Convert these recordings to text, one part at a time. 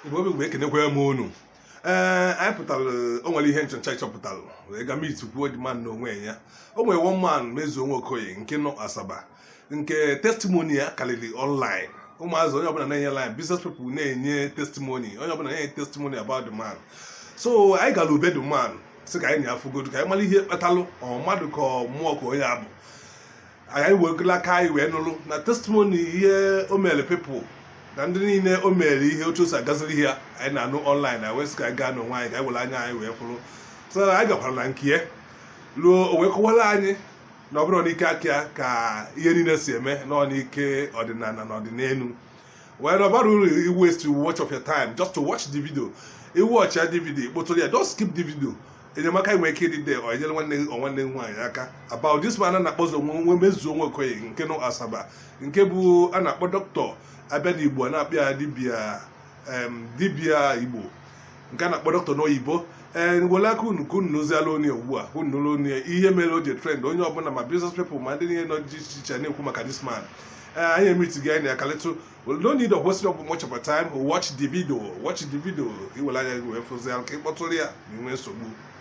igbo obi mgbe ekenekwa m unu ee eh, anyị pụtara o nwere ihe nchọcha a chọpụtara wee ga meet kwuo the man n'onwe ya o nwere one man Mezuo Nwokoye nke nọ asaba nke testimony ya karịrị online ụmụazị onye ọbụla na-enye line business people na-enye testimony onye ọbụla na-enye testimony about the man so anyị gara be the man sị ka anyị na ya fụgodu ka anyị mara ihe kpatalụ ọ mmadụ ka mmụọ ka onye ọ bụ anyị were aka anyị wee nụrụ na testimony ihe o meere people na ndị niile o mere ihe otu o si agaziri ha anyị na-anụ online anyị wee sị ka anyị gaa n'onwe anyị ka anyị were anya anyị wee fụrụ so na anyị gakwara na nke ya ruo o wee kọwara anyị na ọ bụrọ n'ike aka ya ka ihe niile si eme na ọ n'ike ọdịnala na ọdịnelu well ọ barọ uru i waste much of your time just to watch the video ị watchaa the video ị kpọtụrụ ya don't skip the video enyemaka nwere ike ịdị there or enyere nwanne gị or nwanne gị nwaanyị aka about this man a na-akpọ ọzọ nwe Mezuo Nwokoye nke nọ asaba nke bụ a na-akpọ dọkịta a bịa n'igbo a na-akpọ ya dibia em, dibia igbo nke a na-akpọ dọkịta n'oyibo ee ngwele aka unu ka unu nọzi online ugbu a unu nụrụ onye ihe mere o ji trend onye ọbụla ma business people ma ndị niile nọ dị iche iche na-ekwu maka this man ee anyị emeetigo anyị na ya kalịtụ no need of wasting of much of our time watch the video watch the video ka ị were anya gị wee fụzi ya ka ị kpọtụrụ ya ma i nwee nsogbu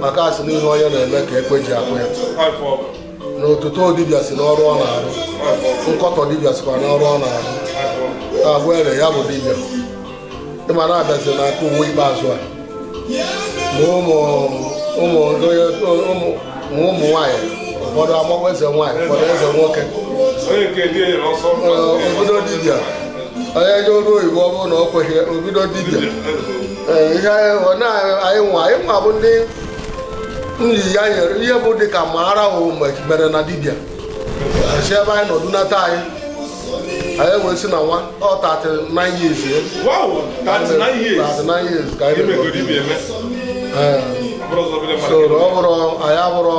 maka a sị na ihe onye na-eme ka ekwe ji akụ ya na otuto dibịa si n'ọrụ ọ na-arụ nkọtọ dibịa sikwa n'ọrụ ọ na-arụ na ọgwụ ere ya bụ dibịa ị ma na a bịazi n'aka ụwa ikpeazụ a ma ụmụ ụmụ nwaanyị ụfọdụ agbagwa eze nwaanyị ụfọdụ eze nwoke o bido dibịa onye je ọrụ oyibo ọ bụrụ na ọ kweghị o bido dibịa ihe anyị nwa anyị nwa bụ ndị nri ya nyere ihe bụ dị ka ma ara hụ mere na dibịa si ebe anyị nọdụ nata anyị anyị wee si na nwa ọ 39 years ya 39 years ka anyị so ọ bụrụ anyị abụrụ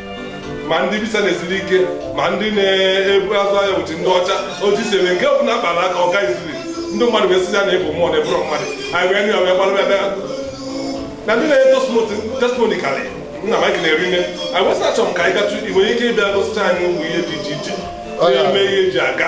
ma ndị visa na-esiri ike ma ndị na-ebu azụ ahịa ụbọchị ndị ọcha otu si eme nke ọ bụla kpara aka ọ gaziri ndị mmadụ wee sị ya na ị bụ mmụọ na ị bụrọ mmadụ anyị wee nụ ya wee gbalụ ebe na ndị na-enye testimony karị nna m ekene rinne anyị wee sị achọrọ m ka anyị gatụ i nwere ike ịbịa gosịcha anyị ụmụ ihe dị iche iche na-eme ihe e ji aga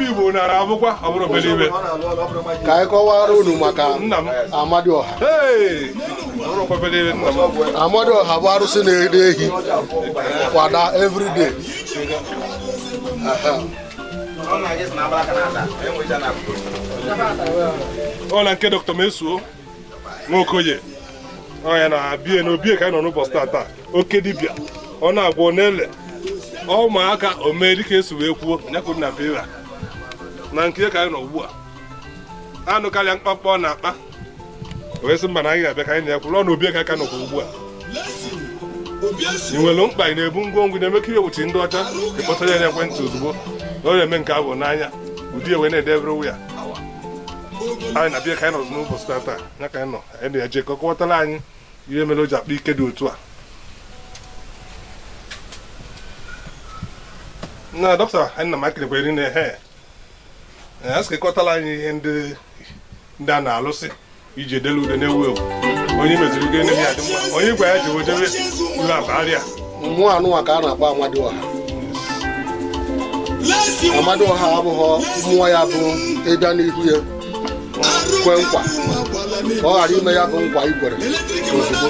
Igbo nara abụkwa ọ bụrụ obere ife ka anyị kọwara unu maka nna m Amadioha ee ọ bụrọ obere ife nna m Amadioha bụ arụsị na-eri ehi kwada everyday ọ na nke dọkịta Mezuo nwokoye ọ nya na-abịa n'obie ka anyị nọ n'ụbọchị tata oke dibịa ọ na-agwọ n'ele ụmụaka omee dịka e si wee kwuo nya kụ na vera na nke ka anyị nọ ugbu a anụkarịa mkpamkpa ọ na-akpa wee sị mba na anyị ga-abịa ka anyị na-ekwuru ọ na obie ka aka nọkwa ugbu a ị nwere mkpa ị na-ebu ngwongwo na-eme ka ihe wuchi ndị ọcha ị kpọtara ya n'ekwentị ozugbo na ọ na-eme nke abụ n'anya ụdị ewe na-edebere ya anyị na-abịa ka anyị nọzụ n'ụbọchị tata ya ka anyị nọ anyị na-eje ka ọ kọwatara anyị ihe mere o ji akpa ike dị otu a na dọkịta anyị na makịrịkwa iri na he a sị ka ị kọwatara anyị ihe ndị ndị a na-alụsị i ji edelu ude na-ewu ewu onye meziri ude na-ehi adị mma onye gwa ya ji wejebe iwe akpa arịa mmụọ anụnwa ka a na-akpọ Amadioha Amadioha abụghị mmụọ ya bụ ị bịa n'ihu ya kwe nkwa ka ọ ghara ime ya bụ nkwa i kwere ozugbo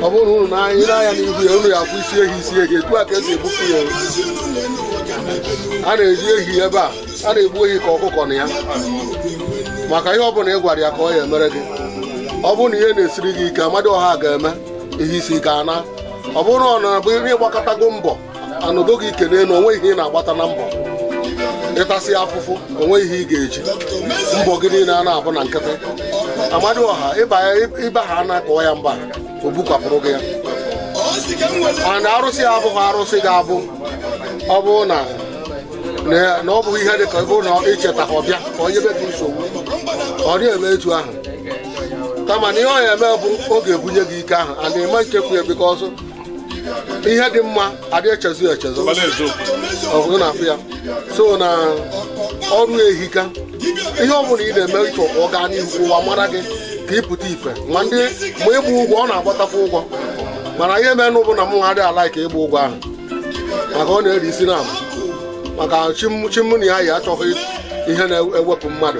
ọ bụrụ na unu nara ya n'ihu ya unu ya-akwụ isi ehi isi ehi etu a ka e si egbupụ ya a na-eri ehi ebe a a na-egbu ehi ka ọkụkọ na ya maka ihe ọ bụla ị gwara ya ka ọ ya-emere gị ọ bụrụ na ihe na-esiri gị ike Amadioha ga-eme ihe isi ike ana ọ bụrụ na ọ na-abụ ị gbakatago mbọ a nọdo gị ike n'elu o nweghị ihe ị na-agbata na mbọ ị tasịa afụfụ o nweghị ihe ị ga-eji mbọ gị niile a na-abụ na nkịtị Amadioha ịba ha na kọọ ya mba o bukwapụrụ gị ya mana arụsị a abụghị arụsị ga-abụ ọ bụrụ na na ọ bụghị ihe dị ka ọ bụrụ na i chetaghị ọ bịa ka o nyebe gị nsogbu ọ dịghị eme etu ahụ kama na ihe ọ ya-eme bụ ọ ga-ebunye gị ike ahụ and ị ma echefu ya because ihe dị mma a dị echezu ya echezu ọ bụrụ na a fụ ya so na ọrụ ehika ihe ọ bụla ị na-eme ị chọọ ka ọ gaa n'ihu ka ụwa mara gị ka ị pụta ife and ma ịgba ụgwọ ọ na-agbatakwa ụgwọ mana ihe mere nụ bụ na m adịghị a-like ịgba ụgwọ ahụ maka ọ na-eri isi na maka chi mụ na ya yi achọghị ihe na-ewepụ mmadụ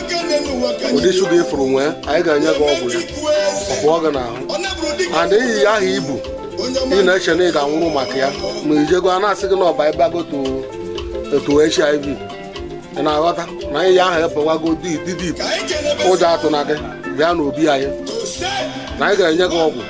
ụdị shuga ị fụrụ nwee anyị ga-enye gị ọgwụ ya ọ pụọ gị n'ahụ and ọrịa ahụ i bu ị na-eche na ị ga-anwụrụ maka ya ma i jego a na-asị gị na ọ babago to hiv ị na-aghọta na ọrịa ahụ abawago deep deep ụjọ atụna gị bịa n'obi anyị na anyị ga-enye gị ọgwụ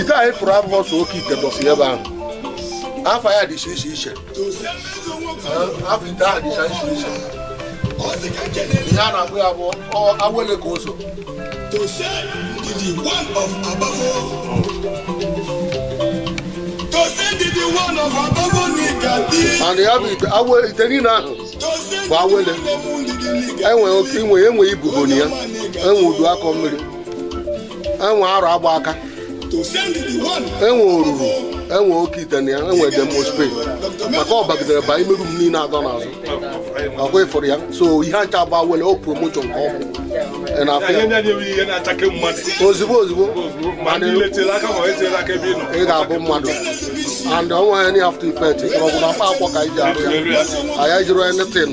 ite anyị fụrụ abụrọ sọ oke ite dọsị ebe ahụ afa ya dịcha iche iche afa ite ahụ dịcha iche iche ihe a na-akpọ ya bụ awele ka oso and ya bụ ite awe ite niile ahụ bụ awele e nwe oke inwe e nwe ibobo na ya e nwe udu akọ mmiri e nwe arụ agba aka e nwe oruru e nwe oke ite na ya e nwe dem must pay maka ọ bagidere ba imeru m niile adọ n'azụ ọ kwa ị fụrụ ya so ihe ncha a bụ awele o promotion ka ọ bụ ị na-afụ ya ozugbo ozugbo ị ga-abụ mmadụ and o nweghị any after effect mkpọrọgwụ na mkpa akwụkwọ ka anyị ji arụ ya anyị ejirọ anything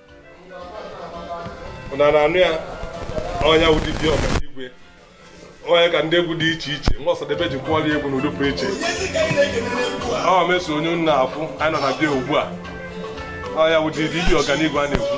unu a na-anụ ya ọ ya wụ dibịa ọganigwe ọ ya ka ndị egwu dị iche iche nwa ọsadebe ji kụọrọ egwu n'ụdị pụrụ iche ọ meso onye nna afụ anyị nọ na be ya ugbu a ọ ya wụ dibịa ọganigwe a na-ekwu